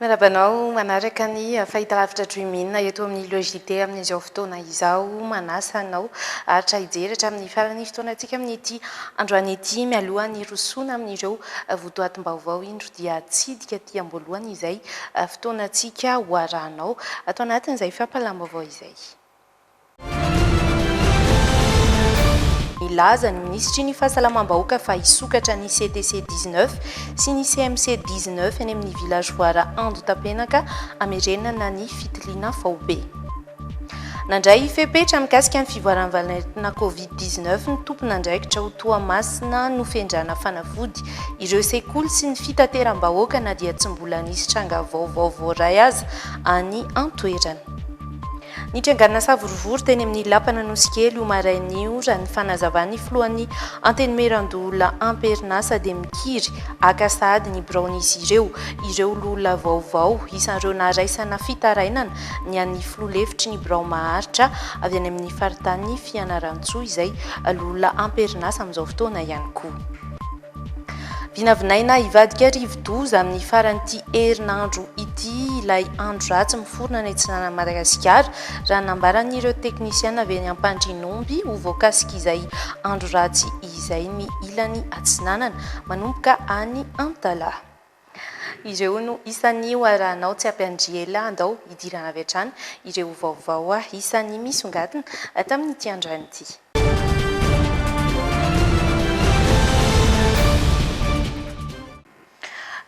Miarahaba anao manaraka ny fahitalavitra Dream In eto amin'ny Le JT amin'izao fotoana izao. Manasa anao aharitra hijery hatramin'ny faran'ny fotoanantsika amin'ity androany ity mialoha ny hirosoana amin'ireo votoatim-baovao indro dia hitsidika aty am-boalohany izay fotoanantsika ho arahanao ato anatin'izay fampahalam-baovao izay. Nilaza ny minisitry ny Fahasalamam-bahoaka fa hisokatra ny CTC 19 sy ny CMC 19 eny amin'ny vilazoara Andotapenaka hamerenana ny fitiliana faobe. Nandray fepetra mikasika ny fivoaran'ny valentina Covid 19 ny tompon'andraikitra ao Toamasina nofendrana fanafody ireo sekoly sy ny fitateram-bahoaka na dia tsy mbola nisy tranga vaovao voaray aza any an-toerana. Nitrangana savorovoro teny amin'ny Lapan'i Anosikely io marain'ny io raha ny fanazavan'ny filohan'ny Antenimierandoholona am-perinasa dia mikiry haka sahady ny biraon'izy ireo ireo loholona vaovao isan'ireo naraisana fitarainana ny an'ny filoha lefitry ny birao maharitra avy any amin'ny faritanin'i Fianarantsoa izay loholona am-perinasa amin'izao fotoana ihany koa. Vinavinaina hivadika rivodoza amin'ny faran'ity herinandro ity ilay andro ratsy miforona any atsinanan'i Madagasikara, raha nambaran'ireo teknisiana avy eny Ampandrinomby. Ho voakasik'izay andro ratsy izay ny ilany atsinanana, manomboka any Antalaha. Ireo no isan'ny ho arahanao tsy ampiandry ela andao hidirana avy hatrany ireo vaovao isan'ny misongadina tamin'ity androany ity.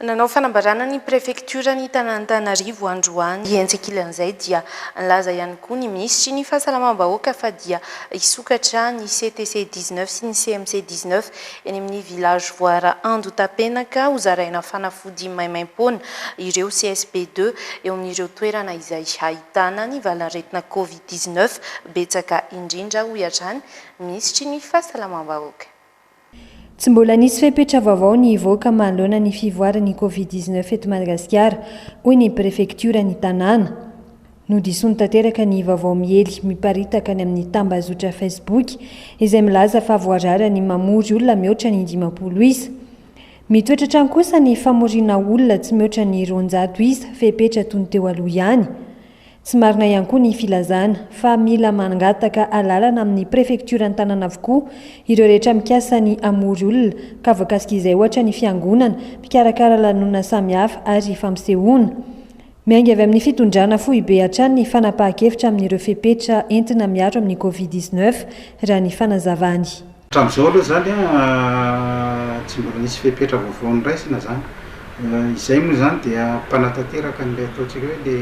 Nanao fanambarana ny prefektioran'i Tanantanarivo androany. Etsy ankilan'izay dia nilaza ihany koa ny minisitry ny fahasalamam-bahoaka fa dia hisokatra ny CTC dix-neuf sy ny CMC dix-neuf Eny amin'ny Village Voara Andotapenaka ho zaraina fanafody maimaimpoana ireo CSP deux eo amin'ireo toerana izay ahitana ny valanaretina Covid dix neuf betsaka indrindra, hoy hatrany ny Minisitry ny Fahasalamam-bahoaka. Tsy mbola nisy fepetra vaovao nivoaka manoloana ny fivoaran'ny Covid dix neuf eto Madagasikara, hoy ny Prefektioran'ny tanàna. Nodisoany tanteraka ny vaovao miely miparitaka any amin'ny tambazotra Facebook izay milaza fa voarara ny mamory olona mihoatra ny dimampolo isa. Mitoetra hatrany kosa ny famoriana olona tsy mihoatra ny roanjato isa fepetra toy ny teo aloha ihany. Tsy marina ihany koa ny filazana fa mila mangataka alalana amin'ny prefektioran'ny tanàna avokoa ireo rehetra mikasa ny hamory olona ka voakasik'izay ohatra ny fiangonana, mpikarakara lanonana samihafa ary fampisehoana. Miainga avy amin'ny fitondrana foibe hatrany ny fanapahan-kevitra amin'ireo fepetra entina miaro amin'ny Covid dix-neuf, raha ny fanazavany. Hatramin'izao aloha izany, tsy mbola nisy fepetra vaovao noraisina izany. Izay moa izany dia mpanatanteraka an'ilay ataontsika hoe le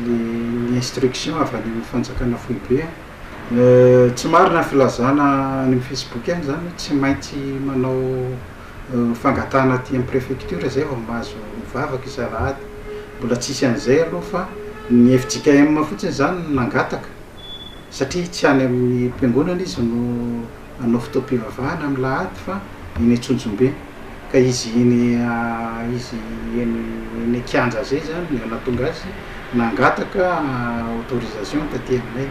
le ny instruction avy any amin'ny fanjakana foibe. Tsy marina ny filazana any amin'ny Facebook any izany hoe tsy maintsy manao. fangatahana aty amin'ny préfecture zay vao mahazo mivavaka isa alahady, mbola tsisy an'izay aloha fa ny fjkm fotsiny zany no nangataka satria tsy any amin'ny mpiangonana izy no hanao fotoam-pivavahana amin'ny lahady fa eny antsonjombe ka izy eny izy eny eny an-kianja zay zany no nahatonga azy nangataka autorisation taty aminay.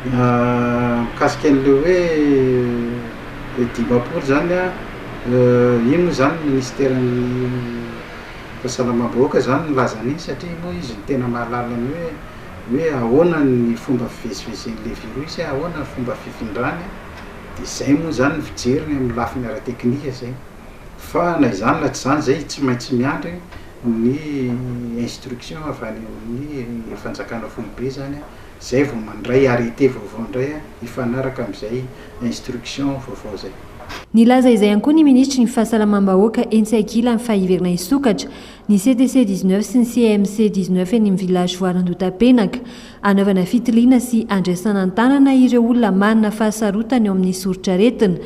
Mikasika an'ilay hoe le dimampolo izany an, iny moa izany ny minisiteran'ny fahasalamam-bahoaka izany nilaza an'iny satria moa izy no tena mahalala ny hoe hoe ahoana ny fomba fivezivezen'ilay virus, ahoana ny fomba fifindrany, dia izay moa izany ny fijeriny amin'ny lafiny ara-teknika izay. Fa na izany na tsy izany izay tsy maintsy miandry ny instruction avy any amin'ny fanjakana foibe izany an, Zay vao mandray arrêté vaovao ndray a, hifanaraka amin'izay instruction vaovao zay. Nilaza izay ihany koa ny minisitry ny Fahasalamam-bahoaka etsy ankilany fa hiverina hisokatra ny CTC dix neuf sy ny CMC dix neuf eny amin'ny Village Voara Andotapenaka hanaovana fitiliana sy handraisana an-tanana ireo olona manana fahasarotana eo amin'ny soritr'aretina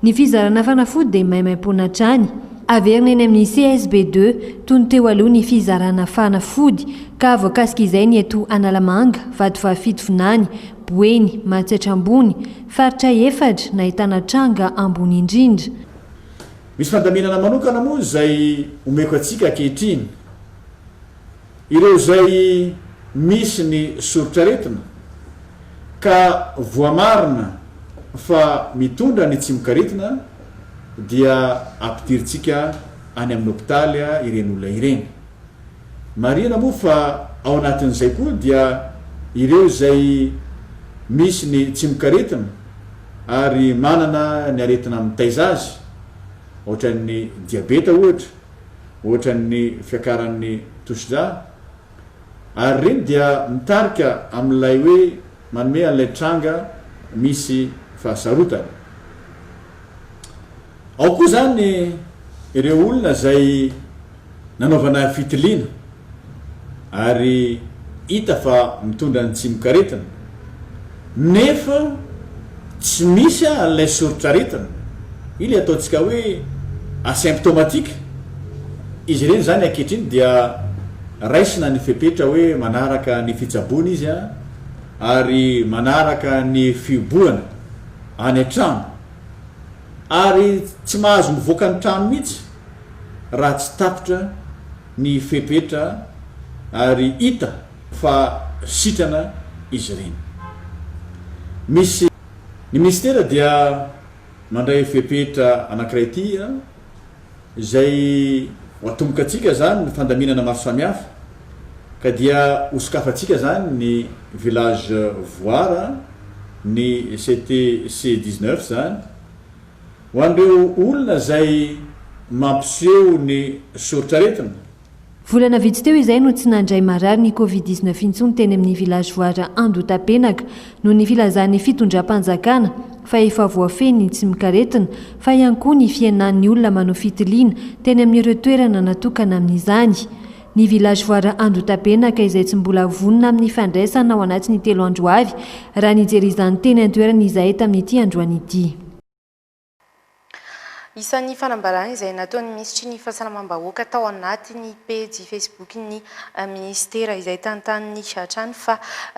Ny fizarana fanafody dia maimaimpoana hatrany. Averina eny amin'ny CSB deux, toy ny teo aloha ny fizarana fanafody, ka voakasika izay ny eto Analamanga, Vatovavy-fito Vinany, Boeny, Matsiatra Ambony, Faritra efatra, nahitana tranga ambony indrindra. Misy fandaminana manokana moa izay omeko antsika ankehitriny. Ireo izay misy ny soritr'aretina ka voamarina fa mitondra ny tsimok'aretina dia ampidirintsika any amin'ny hopitaly ireny olona ireny. Marihina moa fa ao anatin'izay koa dia ireo izay misy ny tsimok'aretina ary manana ny aretina mitaiza azy, ohatran'ny diabeta ohatra, ohatran'ny fiakaran'ny tosidra, ary ireny dia mitarika amin'ilay hoe manome an'ilay tranga misy fahasarotana. Ao koa izany ireo olona izay nanaovana fitiliana. ary hita fa mitondra ny tsimokaretina nefa tsy misy an'ilay soritr'aretina, io ilay ataontsika hoe asymptomatique, izy ireny izany ankehitriny dia raisina ny fepetra hoe manaraka ny fitsaboana izy ary manaraka ny fihobohana any an-trano ary tsy mahazo mivoaka ny trano mihitsy raha tsy tapitra ny fepetra ary hita fa sitrana izy ireny. Misy Ny minisitera dia mandray fepetra anankiray ity a, izay ho atombokantsika izany ny fandaminana maro samihafa ka dia ho sokafantsika izany ny village voara, ny CTC dix-neuf izany, Ho an'ireo olona izay mampiseho ny soritr'aretina. Volana vitsy teo izay no tsy nandray marary ny Covid dix-neuf intsony teny amin'ny Village Voara Andohatapenaka noho ny filazan'ny fitondram-panjakana fa efa voafehy ny tsimokaretina fa ihany koa ny fihenan'ny olona manao fitiliana teny amin'ireo toerana natokana amin'izany. Ny villageois Andotapenaka izay tsy mbola vonona amin'ny fandraisana ao anatin'ny telo andro avy, raha nijery izany teny an-toerana izahay tamin'ity androany ity. Isan'ny fanambarana izay nataon'ny minisitry ny Fahasalamam-bahoaka tao anatin'ny pejy Facebook-n'ny minisitera izay tantaniny hatrany fa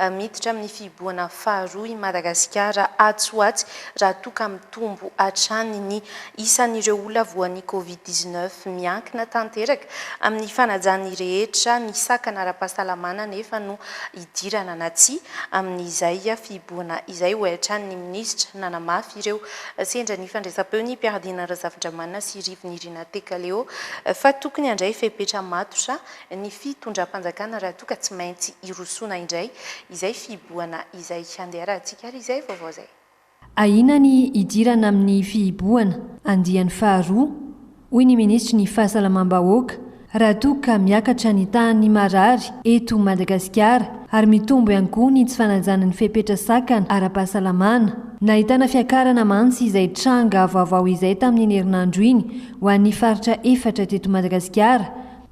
miditra amin'ny fihibohana faharoa i Madagasikara atsy ho atsy raha toa ka mitombo hatrany ny Isan'ireo olona voan'ny Covid dix-neuf miankina tanteraka amin'ny fanajan'ny rehetra ny sakana ara-pahasalamana anefa no hidirana na tsia amin'izay fihibohana izay, hoy hatrany ny minisitra. Nanamafy ireo sendra nifandraisam-peo ny mpiara-diana Razafindramanana sy Rivinirina Tekaleo fa tokony handray fepetra matotra ny fitondram-panjakana raha toa ka tsy maintsy hirosoana indray izay fihibohana izay. Andeha arahantsika ary izay vaovao izay. Ahiana ny hidirana amin'ny fihibohana andiany faharoa, hoy ny minisitry ny Fahasalamam-bahoaka, raha toa ka miakatra ny tahan'ny marary eto Madagasikara ary mitombo ihany koa ny tsy fanajana ny fepetra sakana ara-pahasalamana. Nahitana fiakarana mantsy izay tranga vaovao izay tamin'iny herinandro iny ho an'ny faritra efatra teto Madagasikara.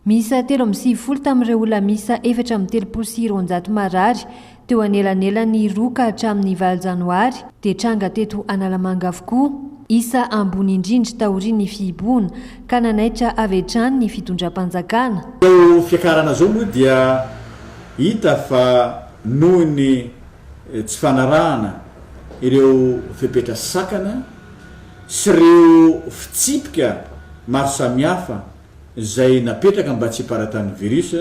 Miisa telo amby sivifolo tamin'ireo olona miisa efatra amby telopolo sy roanjato marary Teo anelanelan'ny roa ka hatramin'ny valo janoary dia tranga teto Analamanga avokoa, isa ambony indrindra taorian'ny fihibohana, ka nanaitra avy hatrany ny fitondram-panjakana. Izao fiakarana izao moa dia hita fa noho ny tsy fanarahana ireo fepetra sakana sy ireo fitsipika maro samihafa izay napetraka mba tsy hiparatàn'ny virus,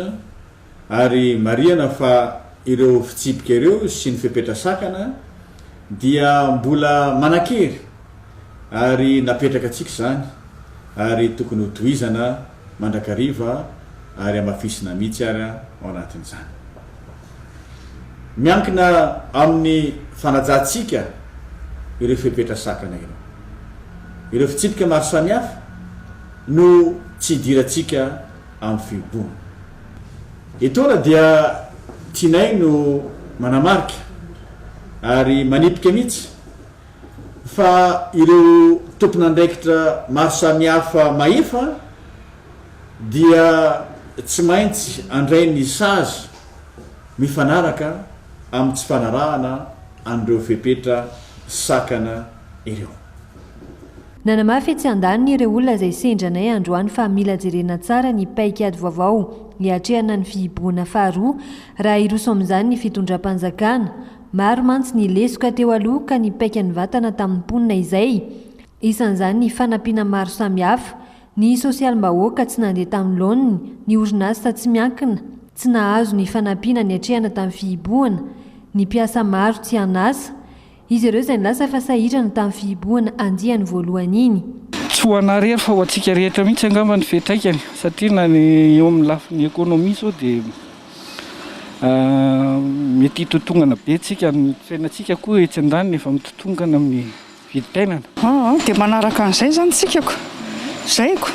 Ary marihana fa ireo fitsipika ireo sy ny fepetra sakana dia mbola manan-kery ary napetraka antsika izany ary tokony ho tohizana mandrakariva ary hamafisina mihitsy ary ao anatin'izany. Miankina amin'ny fanajantsika ireo fepetra sakana ireo. Ireo fitsipika maro samihafa no tsy idirantsika amin'ny fihiboana. Etoana dia Tinay no manamarika ary manipika mihitsy fa ireo tompon'andraikitra maro samihafa mahefa dia tsy maintsy handray ny sazy mifanaraka amin'ny tsy fanarahana an'ireo fepetra sakana ireo. Nanamafy etsy andaniny ireo olona izay sendra anay androany fa mila jerena tsara ny paikady vaovao hiatrehana ny fihibohana faharoa raha hiroso amin'izany ny fitondram-panjakana. Maro mantsy ny lesoka teo aloha ka ny paika nivatana tamin'ny mponina izay, isan'izany ny fanampiana maro samihafa, ny sosialim-bahoaka tsy nandeha tamin'ny laoniny, ny orinasa tsy miankina tsy nahazo ny fanampiana niatrehana tamin'ny fihibohana, ny mpiasa maro tsy an'asa, Izy ireo izay nilaza fa sahirana tamin'ny fihibohana andiany voalohany iny. Tsy ho anà irery fa ho antsika rehetra mihitsy angamba ny fiantraikany satria na ny eo amin'ny lafiny ekonomia izao dia mety hitotongana be antsika, ny fiainantsika koa etsy an-daniny efa mitotongana amin'ny vidim-piainana. Aa, dia manaraka an'izay izany tsikako, zaiko,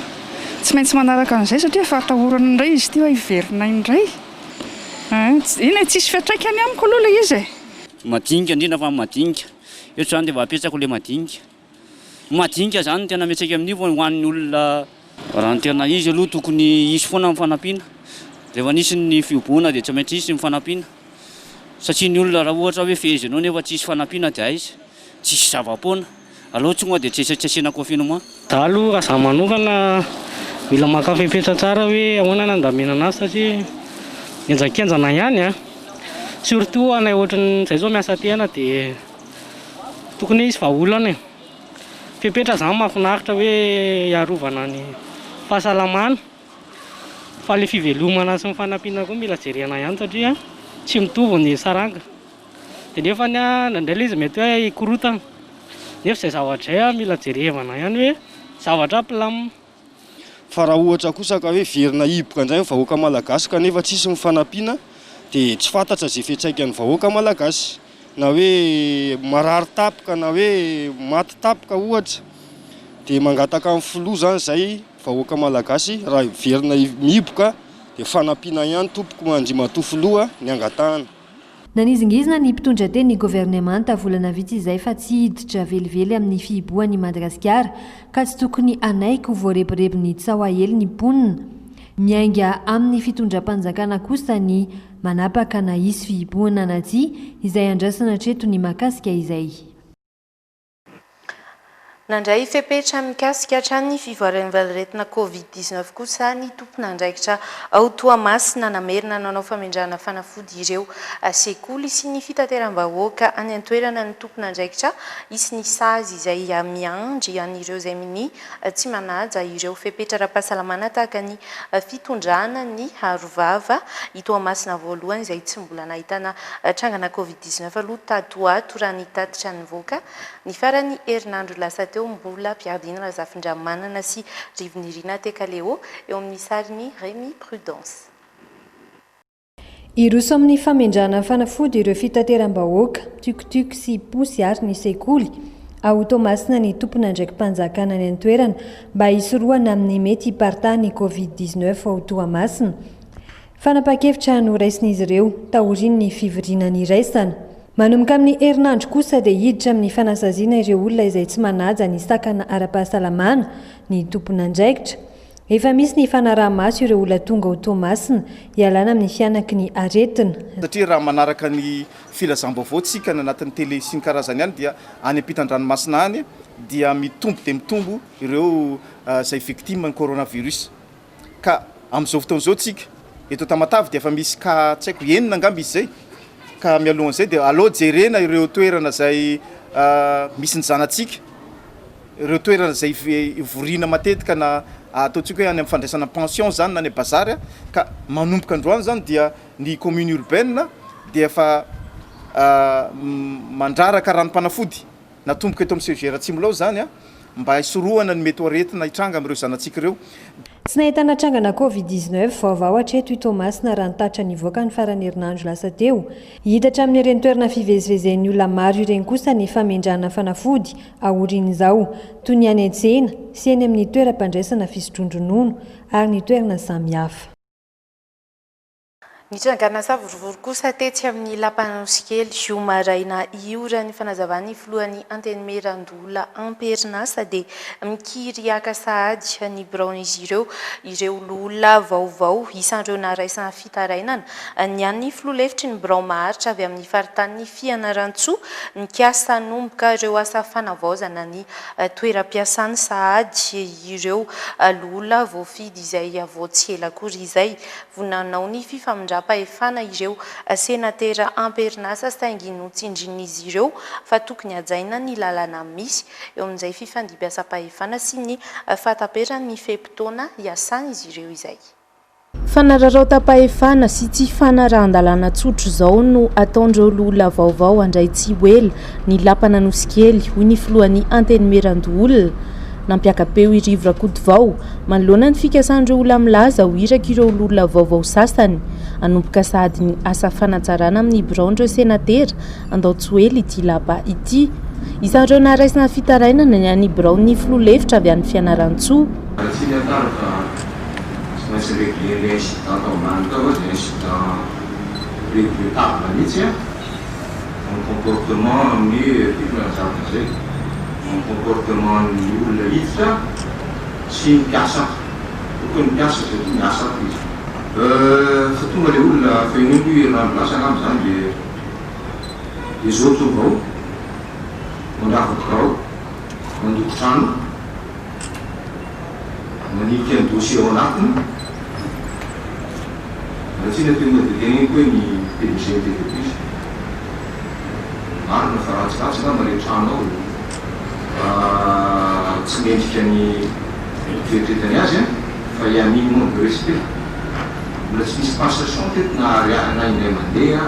tsy maintsy manaraka an'izay satria efa atahorana indray izy ity hoe hiverina indray, aa, eny e, tsisy fiantraikany amiko aloha ilay izy e. Madinika indrindra fa madinika. Eto izany dia mba apetsako ilay madinika. Ny madinika izany no tena mety saika amin'io fa ho an'ny olona. Raha ny tena izy aloha tokony hisy foana ny fanampiana. Rehefa nisy ny fihoboana dia tsy maintsy hisy ny fanampiana. Satria ny olona raha ohatra hoe fehezinao nefa tsy hisy fanampiana dia aiza? Tsy hisy zava-poana. Alou tsy moa dia tsy tsy asiana kofina moa. Za aloha raha za manokana mila maka fepetra tsara hoe ahoana ny handaminana azy satria henjankenjana ihany a! Surtout anay ohatran'ny zay zao miasa aty aina de tokony hoe hisy vahaolana e! Fepetra zany mahafinaritra hoe hiarovana ny fahasalamana fa le fivelomana sy ny fanampiana koa mila jerena ihany satria tsy mitovy ny saranga. Dia nefa ny ahy indraindray ilay izy mety hoe hikorotana nefa izay zavatra izay mila jerevana ihany hoe zavatra plan. Fa raha ohatra kosa ka hoe hiverina hihiboka indray ny vahoaka malagasy kanefa tsisy ny fanampiana dia tsy fantatra izay fiantraikan'ny vahoaka malagasy na hoe marary tampoka na hoe maty tampoka ohatra dia mangataka ny filoha izany izay vahoaka malagasy raha hiverina mihiboka dia fanampiana ihany tompoko andriamatoa filoha ny angatahana. Nanizingizina ny mpitondra teny ny governemanta volana vitsy izay fa tsy hiditra velively amin'ny fihibohany i Madagasikara ka tsy tokony hanaiky ho voarebirebin'ny tsaoa hely ny mponina. Miainga amin'ny fitondram-panjakana kosa ny manapaka na hisy fihibohana na tsia izay andrasana hatreto ny mahakasika izay. Nandray fepetra mikasika hatrany ny fivoaran'ny valir'etina covid dix neuf kosa ny tompon'andraikitra ao Toamasina namerina nanao famindràna fanafody ireo sekoly sy ny fitateram-bahoaka any an-toerana ny tompon'andraikitra hisy ny sazy izay miandry an'ireo izay minia tsy manaja ireo fepetra ara-pahasalamana tahaka ny fitondrana ny arovava i Toamasina voalohany izay tsy mbola nahitana trangana covid dix neuf aloha tato ho ato raha ny tatitra nivoaka ny faran'ny herinandro lasa teo. Mbola mpiadiana Razafindramanana sy Rivo Nirina Tekaleo eo amin'ny sarin'i Remy Prudence. Hiroso amin'ny famindràna fanafody ireo fitateram-bahoaka, tuk-tuk sy posy ary ny sekoly. Ao Toamasina ny tompon'andraiki-panjakana any an-toerana mba hisorohana amin'ny mety hiparitahan'ny Covid dix neuf ao Toamasina. Fanapahan-kevitra noraisin'izy ireo taorian'ny fivoriana niraisana. Manomboka amin'ny herinandro kosa dia hiditra amin'ny fanasaziana ireo olona izay tsy manaja ny sakana ara-pahasalamana ny tompon'andraikitra. Efa misy ny fanaraha-maso ireo olona tonga ao Toamasina hialana amin'ny fianaky ny aretina. Satria raha manaraka ny filazam-baovao tsika any anatin'ny tele sy ny karazany any dia any ampitan-dranomasina any dia mitombo dia mitombo ireo izay victime ny coronavirus ka amin'izao fotoana izao tsika eto Tamatave dia efa misy cas tsy haiko enina angamba izy izay ka mialohan'izay dia aleo jerena ireo toerana izay misy ny zanatsika ireo toerana izay ivoriana matetika na ataontsika hoe any amin'ny fandraisana pension izany na any bazary a, ka manomboka androany izany dia ny commune urbaine dia efa mandraraka ranom-panafody natomboka eto amin'ny CEGR Atsimon'Ilao izany a, mba hisorohana ny mety ho aretina hitranga amin'ireo zanatsika ireo. Tsy nahitana trangana covid dix neuf vaovao hatreto i Toamasina raha ny tatitra nivoaka ny faran'ny herinandro lasa teo. Hita hatramin'ireny toerana fivezivezen'ny olona maro ireny kosa ny famendrahana fanafody aorian'izao, toy ny any an-tsena sy eny amin'ny toeram-pandraisana fisotroan-dronono ary ny toerana samihafa. Nitrangana savorovoro kosa tetsy amin'ny lapan'Anosikely, zoma maraina ioran' ny fanazavana ny filohan'ny Antenimiera Ndola amperinasa dia mikiry haka sahady ny biraon'izy ireo ireo loholona vaovao isan'ireo naraisan Fitarainana, ny an'ny filoha lefitry ny birao maharitra avy amin'ny faritanin'i Fianarantsoa, nikasa hanomboka ireo asa fanavaozana ny toeram-piasany sahady ireo loholona voafidy izay vao tsy ela akory izay. Vonona hanao ny fifamindram-pahefana ireo senatera am-perinasa saingy notsindrin'izy ireo fa tokony hajaina ny lalana misy eo amin'izay fifandimbiasam-pahefana sy ny fahataperan'ny fe-potoana iasan'izy ireo izay. Fanararaotam-pahefana sy tsy fanarahan-dalàna tsotra izao no ataon'ireo loholona vaovao handray tsy ho ela ny lapan'Anosikely, hoy ny filohan'ny Antenimierandoholona, nampiaka-peo i Rivo Rakotovao, manoloana ny fikasan'ireo olona milaza ho iraka ireo loholona vaovao sasany. Hanomboka sahady ny asa fanatsarana amin'ny biraon'ireo senatera handao tsy ho ela ity lapa ity. Isan'ireo naharaisina fitarainana ny an'ny biraon'ny filoha lefitra avy any Fianarantsoa. tsy maintsy régler ilay incident tao ambany tao aloha dia incident regrettable mihitsy an! Ny comportement amin'ny tiako ny hanazava an'izay ny comportement ny olona hiditra sy ny mpiasa tokony ny mpiasa satria miasa koa izy. Euh fa tonga ilay olona fa iny koa herinandro lasa angamba izany dia dia zao tonga ao mandrava birao mandoko trano. Manika ny dossier ao anatiny. Ratsina teo moa dia teneniko hoe ny PDG ny TV plus. Marina fa ratsiratsy angamba ilay trano ao e. Raha tsy mendrika ny fieritreretany azy an, fa i Amin manque de respect. Mbola tsy nisy passation teto na ariary anay indray mandeha.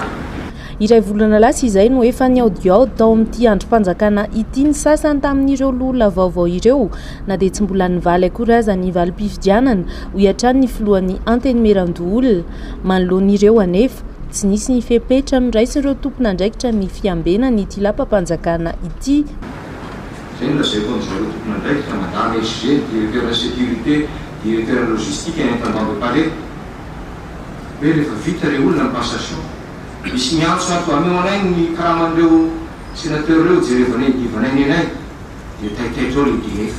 Iray volana lasa izay no efa nihaodihaody tao amin'ity andrim-panjakana ity ny sasany tamin'ireo loholona vaovao ireo, na dia tsy mbola nivaly akory aza ny valim-pifidianana, hoy hatrany ny filohan'ny Antenimierandoholona. Manoloana ireo anefa, tsy nisy ny fepetra noraisin'ireo tompon'andraikitra ny fiambenana ity lapam-panjakana ity. Izay no lazaiko amin'izareo tompon'andraikitra, madame SG, directeur de la sécurité, directeur logistique any Antanimandrepare, hoe rehefa vita ilay olona ny passation, Misy miantso ato, ameo anay ny karaman'ireo sénateur ireo, jerevanay ny divanay nenay dia taitaitra ao ilay DF.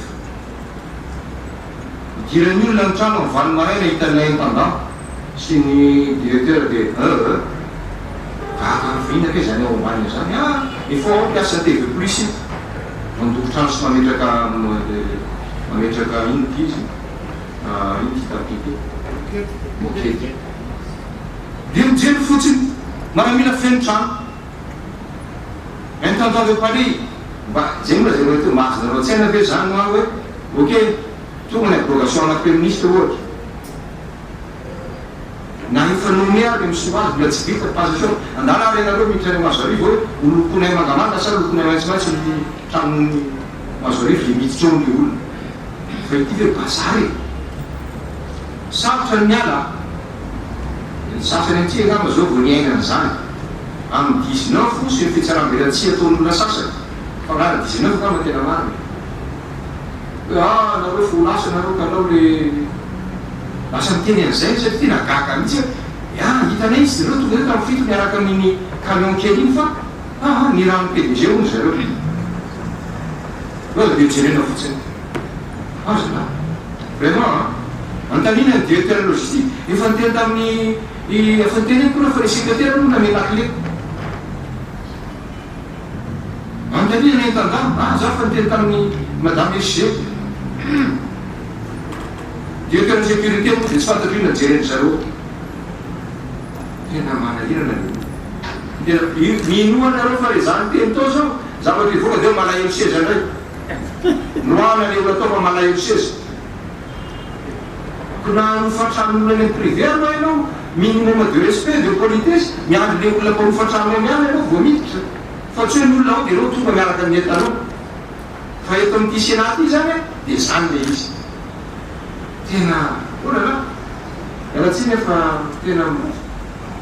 Idiran'ny olona ny trano amin'ny valo maraina hitan'ny intendant sy ny directeur dia euh. Gaga andro vahiny akaiza any ao ambany izany ah! Efa ao mpiasa TV plus io mandoko trano sy mametraka mametraka inona ity izy io? inona ity tapis ity? Moquette. Io mijery fotsiny maramila feno trano Intendant de Paris mba jereo zay mety mahazo nareo tsaina ve zany hoa hoe ok tonga ny abrogation ana feministe ohatra na io fanaonay ary misoa azy mbola tsy vita passation andala ary ianareo miditra any Mazoarivo hoe ho lokonay mangamanga sa lokonay maitsomaitso ny tranon'ny Mazoarivo zay miditra ao ny olona fa ity ve bazary e! Sarotra ny miala a! Ny sasany aty angamba izao vao niaina an'izany. Amin'ny dix neuf hoso ireo fitsaram-belatsihy ataon'olona sasany, fa angah na dix neuf angamba no tena marina e. Hoe ah nareo efa ho lasa nareo ka alao le lasa miteny an'izay aho satria tena gaga mihitsy aho. Dia ah hitanay izy ireo tonga teo tamin'ny fito miaraka amin'iny camion kely iny fa ah ah ny ranon'ny PDG hono zareo. Hoe avy eo jerena fotsiny. Azo nga? Vraiment an! Antanina ny directeur logistique, efa niteny tamin'ny i efa niteny aho kora fa ny secretaire aloha namehy lakile. Antanina ny intendant, ah za efa niteny tamin'ny madame SG. Hum! Directeur sécurité moa dia tsy fantatro inona jeren'ny zareo. Tena manahirana le olona. Tena, minoa nareo fa le za niteny tao zao, zavatra hivoaka dia malahelo seza ndray. Noana le olona tonga malahelo seza ko na arofa trano olona any am privé aloha ianao minimum de respect de politesse miandry le olona mparofa trano any ihany ianao vao miditra fa tsy hoe ny olona ao de ianao tonga miaraka amin'ny entanao fa eto amin'ity senat ity zany a de zany le izy tena olala iala tsiny a fa tena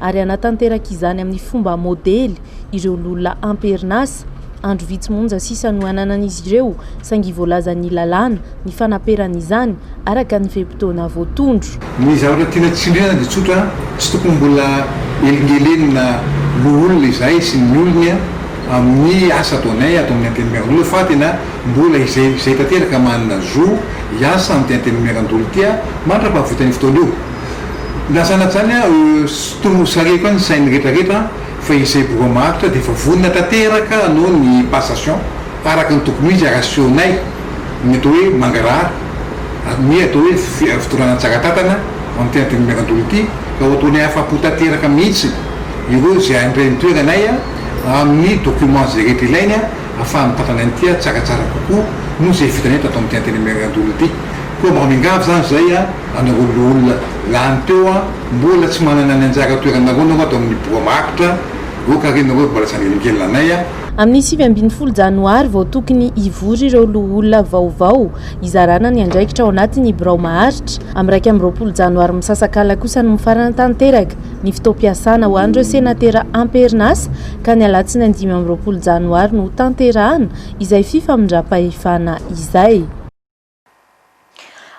ary hanatanteraka izany amin'ny fomba modely ireo loholona am-perinasa. Andro vitsy monja sisa no ananan'izy ireo, saingy voalazan'ny lalàna ny fanaperana izany araka ny fe-potoana voatondro. Ny zavatra tiana tsindriana dia tsotra, tsy tokony mbola helingelenina loholona izahay sy ny olony amin'ny asa ataonay ato amin'ny Antenimierandoholona fa tena mbola izay izay tanteraka manana zo hiasa amin'ity Antenimierandoholona ity mandra-pahavitan'io fotoana io. Na sanatsainy ah sitomo sareko any sainy retra retra an fa izay boka maharitra dia efa vonona tanteraka anao ny passation araka ny tokony ho izy ary asehonay ny atao hoe mangarahara ary ny atao hoe fitondrana tsara tatana amin'ity antenimierandola ity ka ho ataonay afapo tanteraka mihitsy ireo izay handray ny toeranay amin'ny documents izay rehetra ilainy ahafaha mitantana ny tia tsaratsara kokoa noho izay vitanay tato amin'ity antenimierandola ity koa mba miangavy izany izay an Anareo loholona lany teo an! Mbola tsy manana ny anjara toeranareo nareo ato amin'ny boa maharitra, ok re nareo mbola tsy angelingelina anay an! Amin'ny sivy ambin'ny folo janoary vao tokony hivory ireo loholona vaovao hizarana ny andraikitra ao anatin'ny birao maharitra. Amin'ny iraika amby roapolo janoary misasak'ala kosa no mifarana tanteraka ny fotoam-piasana ho an'ireo senatera am-perinasa ka ny alatsinainy dimy amby roapolo janoary no hotanterahana izay fifamindram-pahefana izay.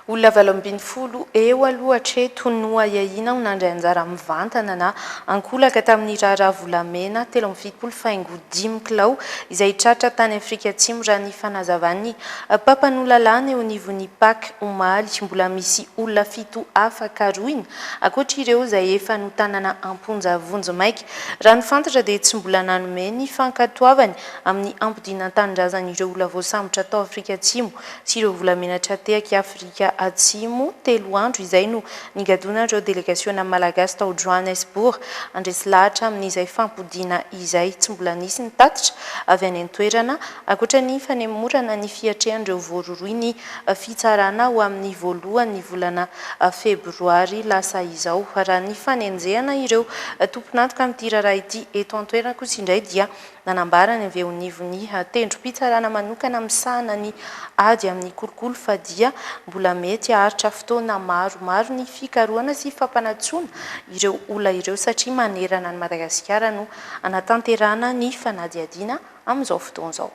Olona valo ambin'ny folo eo aloha hatreto no ahiahiana ho nandray anjara mivantana na ankolaka tamin'ny raharaha volamena telo amby fitopolo faingo dimy kilao izay tratra tany Afrika Atsimo raha ny fanazavan'ny mpampanoa lalàna eo anivon'ny pac omaly. Mbola misy olona fito hafa karohina ankoatra ireo izay efa notanana am-ponja vonjimaika. Raha ny fantatra dia tsy mbola nanome ny fankatoavany amin'ny ampodinan-tanindrazan'ireo olona voasambotra tao Afrika Atsimo sy ireo volamena tra-tehaky Afrika Atsimo, telo andro izay no nigadonan'ireo delegasiona malagasy tao Johannesburg, handresy lahatra amin'izay fampodiana izay tsy mbola nisy ny tatitra avy any an-toerana, ankoatra ny fanemorana ny fiatrehan'ireo voarohirohy ny fitsarana ho amin'ny voalohan'ny volana febroary lasa izao. Raha ny fanenjehana ireo tompon'antoka amin'ity raharaha ity eto an-toerana kosa indray dia Nanambara ny VONIVONI ha tendrom-pitsarana manokana misahana ny ady amin'ny kolikoly fa dia mbola mety haharitra fotoana maromaro ny fikarohana sy fampanatsoana ireo olona ireo satria manerana an'i Madagasikara no hanatanterahana ny fanadihadiana amin'izao fotoana izao.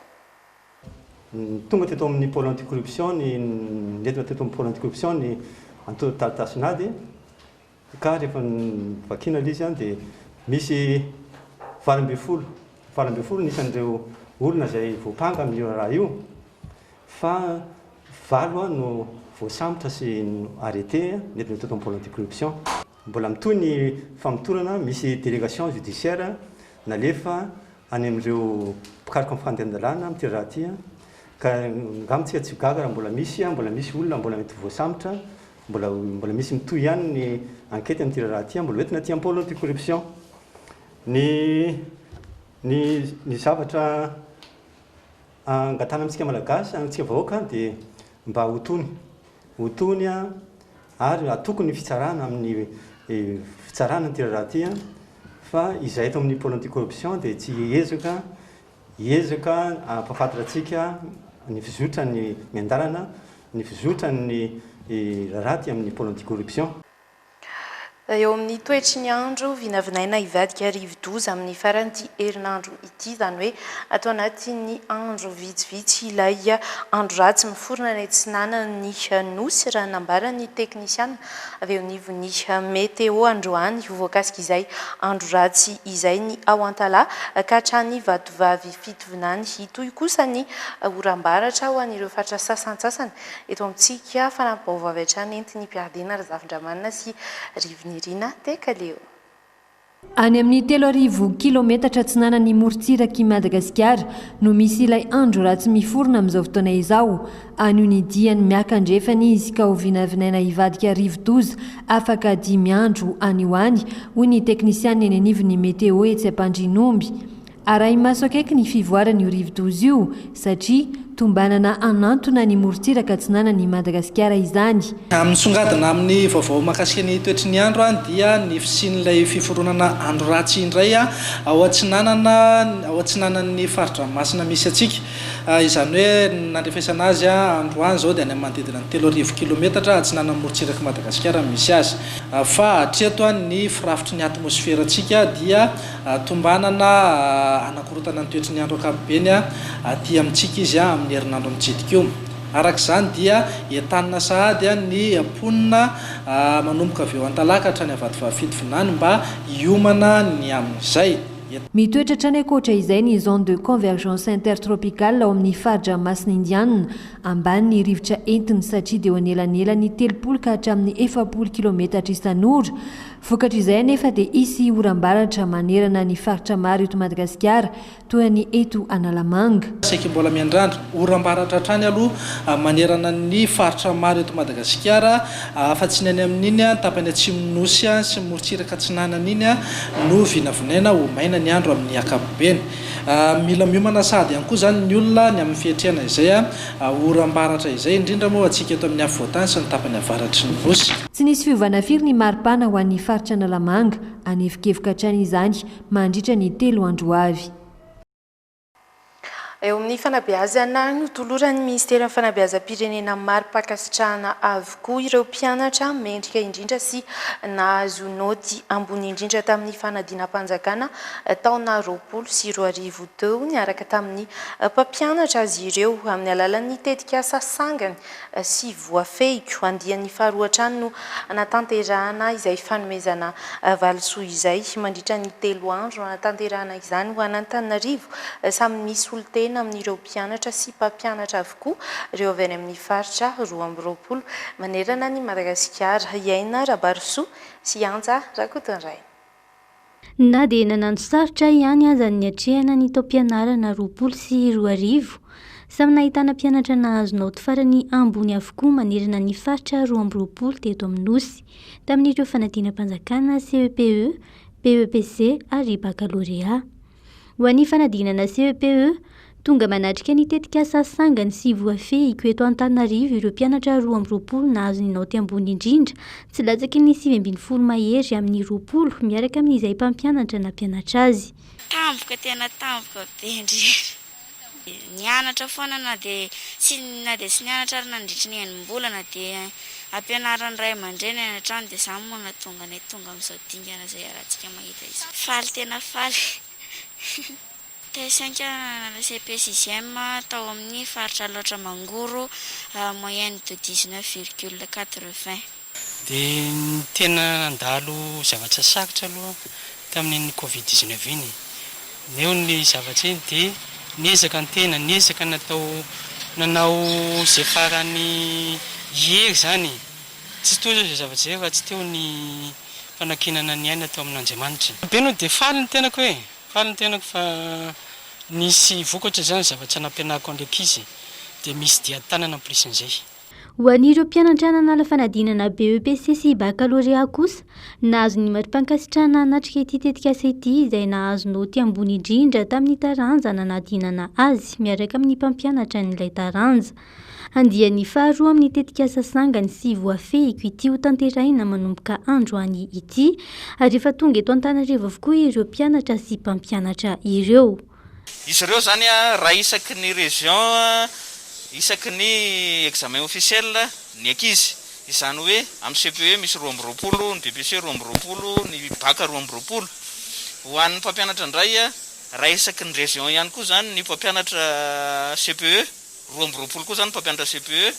Tonga teto amin'ny Pôle anti-corruption ny, nentina teto amin'ny Pôle anti-corruption ny antontan-taratasin'ady. Ka rehefa vakiana ilay izy an dia misy valo ambin'ny folo, valo ambin'ny folo ny isan'ireo olona izay voampanga amin'io raharaha io fa valo no voasambotra sy arrêter nety natoto am-pôle anti-corruption. Mbola mitohy ny famotorana, misy délégation judiciaire nalefa any amin'ireo mpikaroka ny fandehan-dalàna amin'ity raharaha ity ka angamba tsika tsy ho gaga raha mbola misy, mbola misy olona mbola mety ho voasambotra. Mbola mbola misy mitohy ihany ny enquête amin'ity raharaha ity, mbola hoentina aty am-pôlo ity corruption. Ny ny ny zavatra angatahana amintsika Malagasy, amintsika vahoaka dia mba ho tony, ho tony ary atoko ny fitsarana amin'ny fitsarana ity raharaha ity fa izahay eto amin'ny pôlo anti-corruption dia tsy ezaka Hiezaka hampafantra antsika ny fizotran'ny miandalana, ny fizotran'ny raharaha aty amin'ny pôle anti-corruption. Eo amin'ny toetry ny andro, vinavinaina hivadika rivo-doza amin'ny faran'ity herinandro ity, izany hoe ato anatin'ny andro vitsivitsy ilay andro ratsy miforona any atsinanan'ny Nosy, raha ny nambaran'ny teknisiana. avy eo anivon'ny Meteo androany ho voakasik'izay andro ratsy izay ny ao Antalaha ka hatrany Vatovavy Fitovinany hitohy kosa ny oram-baratra ho an'ireo faritra sasantsasany eto amintsika Fanampi-baovao avy hatrany entin'I Piardina Razafindramanana sy Rivo Nirina Tekaleo. Any amin'ny telo arivo kilaometatra atsinanan'i morontsirak'i Madagasikara no misy ilay andro ratsy miforona amin'izao fotoana izao. Anio ny diany miaka andrefana izy ka hovinavinaina hivadika rivodoza afaka dimy andro any ho any, hoy ny teknisianina eny anivon'ny Meteo etsy Ampandrianomby. Arahi-maso akaiky ny fivoaran'io rivodoza io satria tombanana hanantona ny morontsiraka atsinanana i Madagasikara izany. Raha misongadina amin'ny vaovao mahakasika ny toetry ny andro dia ny fisian'ilay fiforonana andro ratsy indray ao atsinanana ao atsinanan'ny fari-dranomasina misy antsika. Izany hoe ny nandrefesana azy androany izao dia any amin'ny manodidina ny telo arivo kilometatra atsinanan'ny morontsirak'i Madagasikara no misy azy. Fa hatreto ny firafitry ny atmosferantsika dia Tombanana hanakorontana ny toetry ny andro ankapobeny aty amintsika izy amin'ny herinandro mitsidika io. Araka izany dia entanina sahady ny mponina manomboka avy eo Antalaka hatrany Avatovav Fito Vinany mba hiomana ny amin'izay. Mitoetra hatrany ankoatra izay ny Zone de Convergence Intertropicale ao amin'ny fari-dranomasina Indianina, ambany ny rivotra entiny satria dia eo anelanelan'ny telopolo ka hatramin'ny efapolo kilaometatra isan'ora, Vokatr'izay anefa dia hisy oram-baratra manerana ny faritra maro eto Madagasikara, toa ny eto Analamanga. Saiky mbola miandrandra oram-baratra hatrany aloha manerana ny faritra maro eto Madagasikara, afa-tsy ny any amin'iny tapany atsimon'ny Nosy sy ny morontsiraka atsinanana iny no vinavinaina ho maina ny andro amin'ny ankapobeny. Mila miomana sahady ihany koa izany ny olona ny amin'ny fiatrehana izay oram-baratra izay, indrindra moa ho antsika eto amin'ny afovoantany sy ny tapany avaratry ny Nosy. Tsy nisy fiovana firy ny maripana ho an'ny faritra Analamanga, hanevokevoka hatrany izany mandritra ny telo andro ho avy. Eo amin'ny fanabeazana, notoloran'ny minisiteran'ny fanabeazam-pirenena mari-pankasitrahana avokoa ireo mpianatra mendrika indrindra sy nahazo naoty ambony indrindra tamin'ny fanadinam-panjakana taona roapolo sy roa arivo teo. Niaraka tamin'ny mpampianatra azy ireo amin'ny alalan'ny tetikasa sangany sy voafehiko. Andiany faharoa hatrany no hanatanterahana izay fanomezana valisoa izay. Mandritra ny telo andro hanatanterahana izany ho an'Antananarivo, samy misy solontena amin'ireo mpianatra sy mpampianatra avokoa ireo avy any amin'ny faritra roa amby roapolo manerana an'i Madagasikara. I Aina Rabarosoa sy Anja Rakotondraina. Na dia nanano sarotra ahy ihany aza ny niatrehana ny taom-pianarana roapolo sy roa arivo, samy nahitana mpianatra nahazo naoty farany ambony avokoa manerana ny faritra roa amby roapolo teto amin'ny Nosy, tamin'ireo fanadinam-panjakana, CEPE, BEPC ary bakalorea. Ho an'ny fanadinana CEPE, tonga manatrika ny tetikasa Sangany sy Voafehiko eto Antananarivo ireo mpianatra roa amby roapolo nahazo ny naoty ambony indrindra tsy latsaky ny sivy ambin'ny folo mahery amin'ny roapolo miaraka amin'izay mpampianatra nampianatra azy. Tampoka tena tampoka be ndry. Nianatra foana na dia tsy na dia tsy nianatra ary nandritry ny enim-bolana dia ampianarin'ny ray aman-dreny any an-trano dia izany moa no nahatonga anay tonga amin'izao dingana izay iarahantsika mahita izao. Faly tena faly. Tay sainga nanala cepe sixième tao amin'ny faritra Alaotra Mangoro, moyenne de dix-neuf virgule quatre-vingts. Dia ny tena nandalo zavatra sarotra aloha tamin'iny covid dix neuf iny e! Neo ny zavatra iny dia niezaka ny tena, niezaka natao nanao izay faran'ny hery izany, tsy toy izao izay zavatra izay raha tsy teo ny fanankinana ny aina tao amin'Andriamanitra. Be no dia faly ny tenako e! Faly ny tenako fa nisy vokatra izany zavatra nampianariko an'ilay ankizy dia misy dian-tanana en plus an'izay. Ho an'ireo mpianatra nanala fanadinana BEPC sy Baccalauréat kosa, nahazo ny mari-pankasitrahana hanatrika ity tetikasa ity izay nahazo naoty ambony indrindra tamin'ny taranja nanadinana azy miaraka amin'ny mpampianatra an'ilay taranja. Andiany faharoa amin'ny tetikasa sangany sy voafehiko ity ho tanterahina manomboka androany ity ary efa tonga eto Antananarivo avokoa ireo mpianatra sy mpampianatra ireo. Izy ireo izany raha isaky ny région isaky ny examen officiel ny ankizy. Izany hoe amin'ny CPE misy roa amby roapolo, ny BPC roa amby roapolo, ny bac roa amby roapolo. Ho an'ny mpampianatra indray raha isaky ny région ihany koa izany ny mpampianatra CPE. roa amby roapolo koa izany ny mpampianatra CPE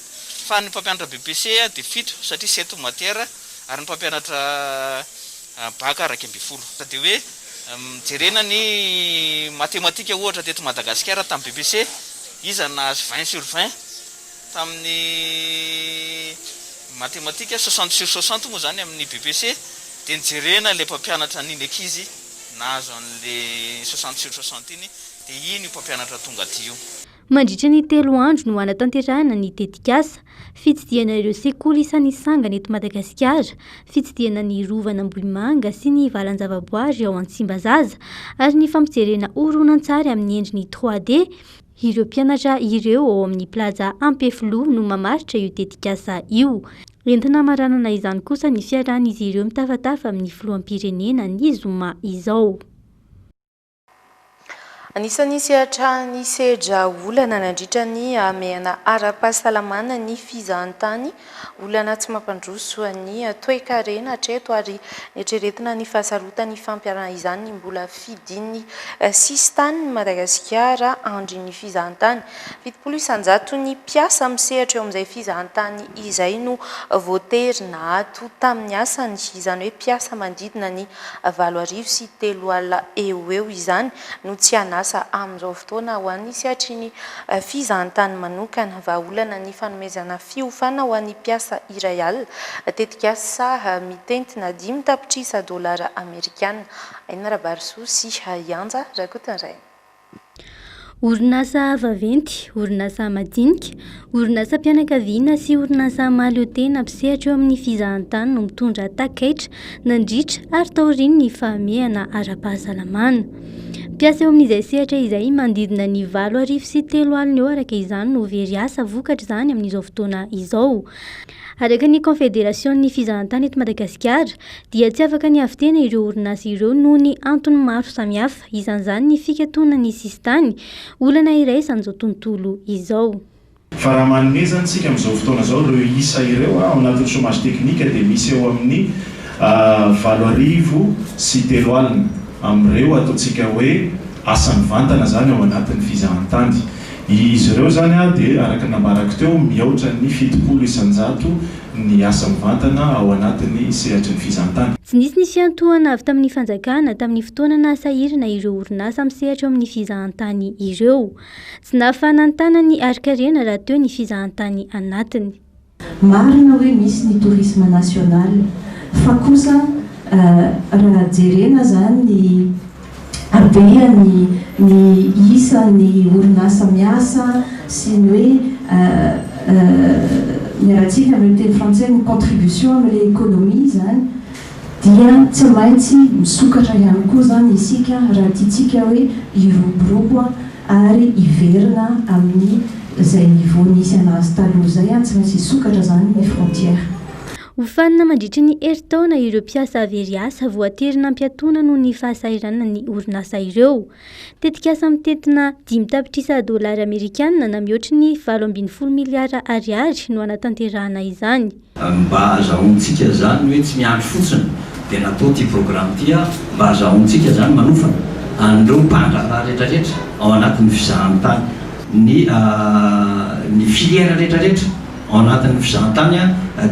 fa ny mpampianatra BEPC dia fito satria sept matières ary ny mpampianatra Bac iraika ambin'ny folo. Dia hoe jerena ny matematika ohatra teto Madagasikara tamin'ny BEPC iza nahazo vingt sur vingt tamin'ny matematika, soixante sur soixante moa izany amin'ny BEPC dia ny jerena ilay mpampianatra an'iny ankizy nahazo an'ilay soixante sur soixante iny dia iny io mpampianatra tonga aty io. Mandritra ny telo andro no hanatanterahana ny tetikasa, fitsidihana ireo sekoly isan'ny sangany eto Madagasikara, fitsidihana ny rovan'Ambohimanga sy ny valan-javaboary ao Antsimbazaza ary ny fampijerena horonantsary amin'ny endriny trois D ireo mpianatra ireo ao amin'ny Plaza Ampefiloha no mamaritra io tetikasa io. Entina hamaranana izany kosa ny fiarahan'izy ireo mitafatafa amin'ny filoham-pirenena ny zoma izao. Anisan'ny sehatra nisedra olana nandritra ny hamehana ara-pahasalamana ny fizahantany, olana tsy mampandroso ny toekarena hatreto ary neritreretina ny fahasarotana hifampiarahana izany ny mbola fidin'ny sisintanin'i Madagasikara andry ny fizahantany. Fitopolo isan-jato ny mpiasa misehatra eo amin'izay fizahantany izay no voatery nahato tamin'ny asany, izany hoe mpiasa manodidina ny valo arivo sy telo alina eo ho eo izany no tsy an'asa amin'izao fotoana ho an'ny sehatrin'ny fizahantany manokana. Vahaolana ny fanomezana fiofana ho an'ny mpiasa iray alina, tetikasa saha mitentina dimy tapitrisa dolara amerikana. Aina Rabarisoa sy Ianja Rakotondraina. Orinasa vaventy, orinasa madinika, orinasam-pianakaviana sy orinasa mahaleotena mpisehatra eo amin'ny fizahantany no mitondra takaitra nandritra ary taorian'ny ny fahamehana ara-pahasalamana. Mpiasa eo amin'izay sehatra izay manodidina ny valo arivo sy telo alina eo araka izany no very asa vokatra izany amin'izao fotoana izao. Araka ny Kaonfederasion'ny Fizahantany eto Madagasikara dia tsy afaka ny havitena ireo orinasa ireo noho ny antony maro samihafa, isan'izany ny fikatonan'ny sisintany, olana iraisan'izao tontolo izao. Fa raha manomezana isika amin'izao fotoana izao ireo isa ireo ao anatin'ny chômage technique dia misy eo amin'ny valo arivo sy telo alina amin'ireo ataontsika hoe asa mivantana izany ao anatin'ny fizahantany. Izy ireo izany dia, araka ny nambarako teo, mihoatra ny fitopolo isan-jato ny asa mivantana ao anatin'ny sehatry ny fizahantany. Tsy nisy nisiantohana avy tamin'ny fanjakana tamin'ny fotoana nahasahirana ireo orinasa misehatra eo amin'ny fizahantany ireo. Tsy nahafahana nitana ny harin-karena rahateo ny fizahantany anatiny. Marina hoe misy ny tourisme national fa kosa raha jerena zany ny habeany ny isan'ny orinasa miasa sy ny hoe ny aratsika amin'ny teny frantsay ny contribution amin'ilay economie zany dia tsy maintsy misokatra ihany koa zany isika raha tiantsika hoe hiroborobo ary hiverina amin'ny izay niveau nisy anazy taloha izay an, tsy maintsy hisokatra izany ny frontière. Hofanina mandritry ny herintaona ireo mpiasa very asa voatery nampiatoana noho ny fahasahiranana ny orinasa ireo. Tetikasa mitentina dimy tapitrisa dolara amerikana na mihoatry ny valo ambin'ny folo miliara ariary no hanatanterahana izany. Mba azahoantsika izany ny hoe tsy miandry fotsiny dia natao ity programa ity ary mba azahoantsika izany manofana an'ireo mpandraharaha rehetrarehetra ao anatin'ny fizahantany, ny ny filière rehetrarehetra ao anatin'ny fizahantany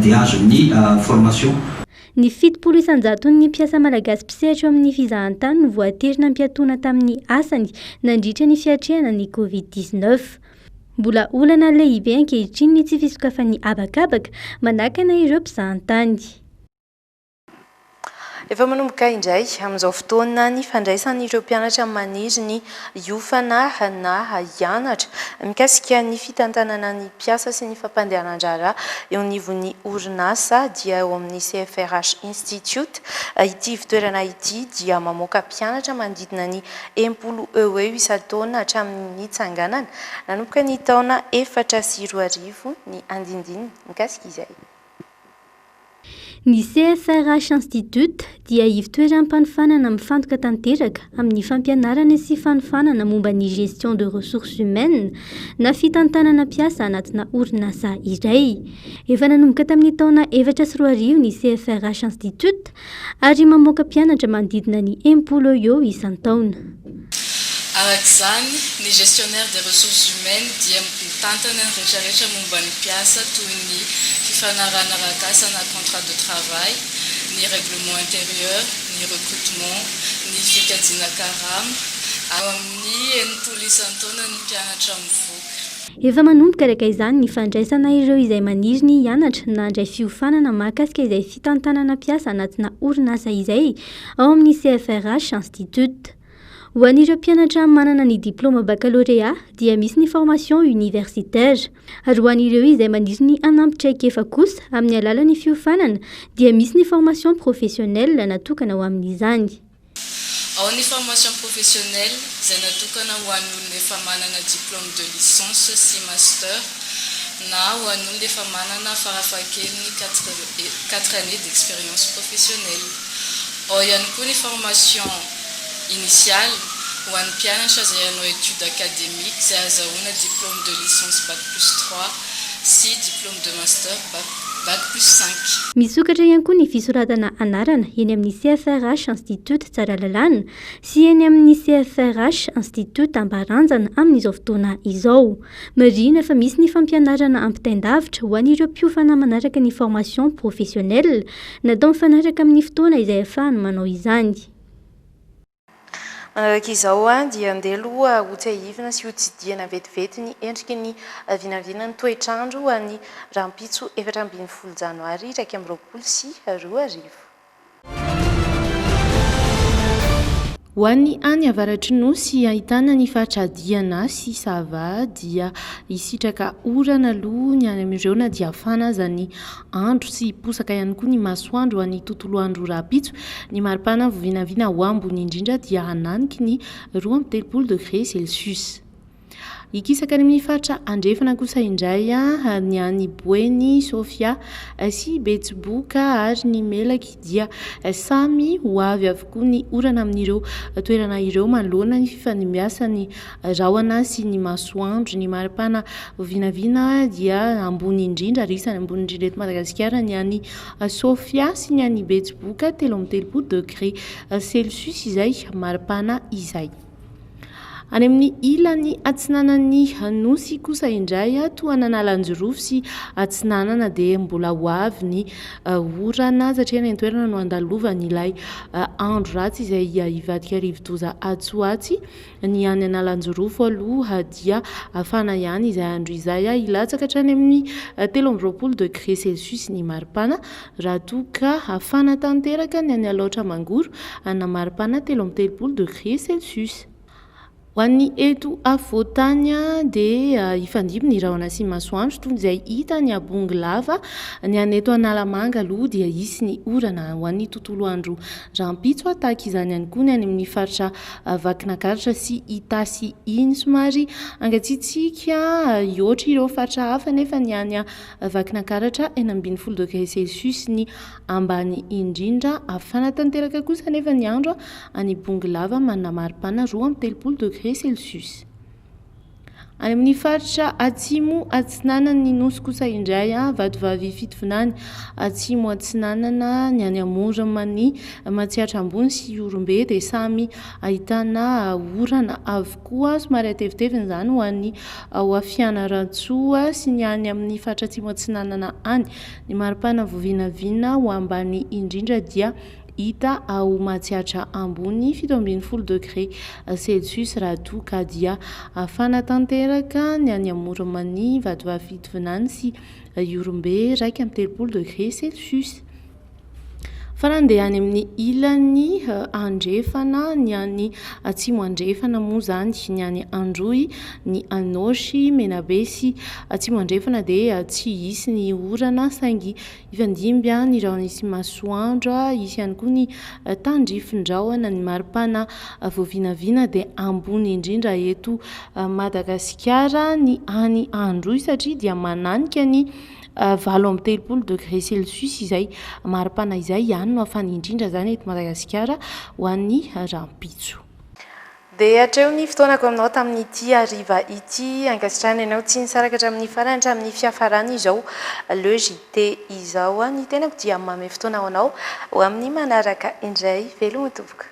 dia azo ny formation. Ny fitopolo isan-jaton'ny mpiasa malagasy mpisehatra eo amin'ny fizahantany no voatery nampiatoana tamin'ny asany nandritra ny fiatrehana ny Covid dix-neuf. Mbola olana lehibe ankehitriny ny tsy fisokafan'ny habakabaka manakana ireo mpizahantany. Efa manomboka indray amin'izao fotoana ny fandraisan'ireo mpianatra maniry ny hiofana na hianatra mikasika ny fitantanana ny mpiasa sy ny fampandehanan-draharaha eo anivon'ny orinasa dia eo amin'ny CFRH Institute ity ivotoerana ity dia mamoaka mpianatra manodidina ny Enimpolo eo ho eo isan-taona hatramin'ny nitsanganana nanomboka ny taona efatra sy roa arivo ny andinindininy mikasika izay. Ny CFRH Institute dia ivotoeram-panofanana mifantoka tanteraka amin'ny fampianarana sy fanofanana momba ny gestion de ressources humaines na fitantanana mpiasa anatina orinasa iray. Efa nanomboka tamin'ny taona efatra sy roa arivo ny CFRH Institute Ary mamoaka mpianatra manodidina ny enimpolo eo isan-taona. Araka izany, ny Gestionnaire des Ressources Humaines dia mitantana ny retraretra momba ny mpiasa toy ny fifanarahana arak'asa na contrat de travail, ny règlement intérieur, ny recrutement, ny fikajiana karama. Eo amin'ny enimpolo isan-taona ny mpianatra mivoaka. Efa manomboka araka izany ny fandraisana ireo izay maniry ny hianatra na handray fiofanana mahakasika izay. fitantanana mpiasa anatina orinasa izay ao amin'ny CFRH Institut. Ho an'ireo mpianatra manana ny diplaoma bakalorea dia misy ny formation universitaire, ary ho an'ireo izay maniry ny hanampy traikefa kosa amin'ny alalan'ny fiofanana dia misy ny formation professionnelle natokana ho amin'izany. Ao ny formation professionnelle izay natokana ho an'ny olona efa manana diplôme de licence sy master na ho an'olona efa manana farafahakeliny quatre années d'expérience professionnelle. Ao ihany koa ny formation initiale ho an'ny mpianatra izay hanao études académiques izay azahoana diplôme de licence bac plus trois sy diplôme de master bac plus Bac plus cinq. Misokatra ihany koa ny fisoratana anarana eny amin'ny CFRH Institut Tsaralalàna sy eny amin'ny CFRH Institut Ambaranjana amin'izao fotoana izao. Marihina fa misy ny fampianarana ampitain-davitra ho an'ireo mpiofana manaraka ny formation professionnelle natao mifanaraka amin'ny fotoana izay ahafahany manao izany. Araka izao dia andeha aloha hotsiahivina sy hotsidihana vetivety ny endriky ny vinavinan'ny toetr'andro any rahampitso efatra ambin'ny folo janoary iraika amby roapolo sy roa arivo. Ho an'ny any avaratry ny Nosy ahitana ny faritra Diana sy Sava dia hisitraka orana aloha ny any amin'ireo na dia hafana aza ny andro sy hiposaka ihany koa ny masoandro any tontolo andro rahampitso. Ny maripana vinavina ho ambony indrindra dia hananiky ny roa amby telopolo degré celsius. Hikisaka any amin'ny faritra andrefana kosa indray ny any Boeny, Sofia sy Betsiboka ary ny Melaky dia samy ho avy avokoa ny orana amin'ireo toerana ireo manoloana ny fifanimbiasan'ny Rahona sy ny masoandro. Ny maripana vinavina dia ambony indrindra ary isany ambony indrindra eto Madagasikara ny any Sofia sy ny any Betsiboka, telo amby telopolo degré celsius izay maripana izay. Any amin'ny ilany atsinanan'ny Nosy kosa indray, tohanan'Analajirofo sy atsinanana dia mbola ho avy ny orana satria any an-toerana no andalovan'ilay andro ratsy izay hivadika rivodoza atsy ho atsy Ny any Analanjirofo aloha dia hafana ihany izay andro izay, hilatsaka hatrany amin'ny telo amby roapolo degré celsius ny maripana raha toa ka hafana tanteraka ny any Alaotra Mangoro hanana maripana telo amby telopolo degré celsius. Ho an'ny eto afovoan-tany dia hifandimby ny rahona sy masoandro toy izay hita any Ambongo lava, ny any eto Analamanga aloha dia hisy ny orana ho an'ny tontolo andro rahampitso, tahaka izany ihany koa ny any amin'ny faritra vakina karatra sy itasy iny somary hangatsiatsiaka hihoatra ireo faritra hafa nefa ny any vakina karatra enina ambin'ny folo degré celsius ny ambany indrindra hafana tanteraka kosa nefa ny andro any Bongolava manana maripana roa amby telopolo degré celsius Any amin'ny faritra atsimo atsinanan'ny nosy kosa indray, Vatovavy Fitovinany atsimo atsinanana, ny any Amoron'i Matsiatra Ambony sy Ihorombe dia samy ahitana orana avokoa, somary hatevitevina izany ho an'i Fianarantsoa sy ny any amin'ny faritra atsimo atsinanana any. Ny maripana vao vinavina ho ambany indrindra dia Hita ao Matsiatra Ambony, fito ambin'ny folo degré celsius raha toa ka dia hafana tanteraka ny any Amoron'i Mania, Vatovavy Fitovinany sy Ihorombe, iraika amby telopolo degré celsius. Fa raha andeha any amin'ny ilany andrefana, ny any atsimo andrefana moa izany, ny any Androy, ny Anôsy, Menabe sy atsimo andrefana dia tsy hisy ny orana saingy Hifandimby an ny rahona sy masoandro a, hisy ihany koa ny tandrifindrahona, ny maripana voavinavina dia ambony indrindra eto Madagasikara ny any Androy satria dia mananika ny valo amby telopolo degré celsius izay maripana izay, ihany no hafana indrindra izany eto Madagasikara ho an'ny rahampitso. Dia hatreo ny fotoanako aminao tamin'ity hariva ity. Ankasitrahana ianao tsy nisaraka hatramin'ny farany hatramin'ny fiafarany izao Le JT izao. Ho an'ny tenako dia manome fotoana ho anao ho amin'ny manaraka indray. Veloma tompoko.